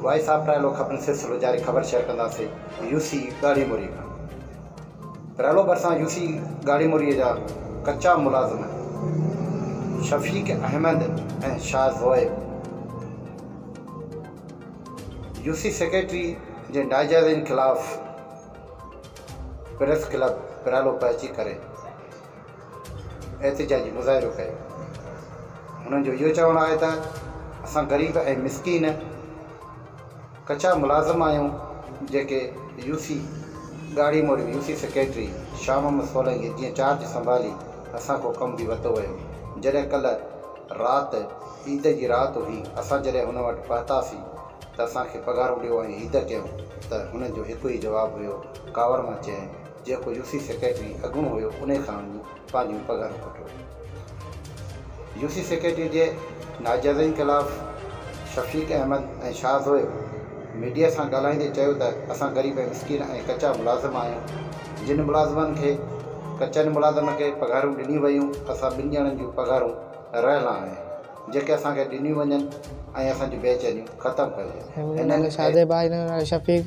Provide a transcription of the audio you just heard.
Voice of ٽرائلو خبرن سلسلو جاري خبر شيئر ڪنداسين يو سي ڳاڙهي موري کان ٽرائلو ڀرسان يو سي ڳاڙهي موري جا ڪچا ملازم Shafiq Ahmed ۽ Shah Zoheb U C secretary جي ناجائزين خلاف پريس ڪلب پرائلو پهچي ڪري احتجاجي مظاهرو ڪيو. هنن جو اهو چوڻ آهي ته اسان غريب ۽ مسڪين ڪچا ملازم آهيون جيڪي يو سي ڳاڙهي موڙيو U C secretary Shah Muhammad Solangi جيئن چارج سنڀالي اسان کان ڪم به ورتو ويو جڏهن ڪلهه رات عيد جي رات هئي اسان جڏهن هن وٽ پهتاسين ته اسان کي پگهارون ڏيو ۽ عيد ڪيون ته هنن جو هڪ ئي جواب هيو ڪاوڙ مان چيائين جيڪو يو سي سيڪريٽري اڳوڻو هيو انهي کان وڃي پنهنجيون پگهارون کٽيو. يو سي سيڪريٽري جي ناجائزين خلاف شفيق احمد ۽ شاهه زويل ميڊيا سان ڳالهائيندي چيو ته اسان غريب ۽ مسڪين ۽ ڪچا ملازم آهيون جن ملازمن کي ڪچن ملازمن کي پگهارون ڏنيون ويون اسان ٻن ڄڻن جون پگهارون رهيل آهن جيڪي اسان کي ڏنيون وڃن ۽ اسان جون بيچينيون ختم ڪجي هنن اهڙي. شاهه زويل ۽ شفيق.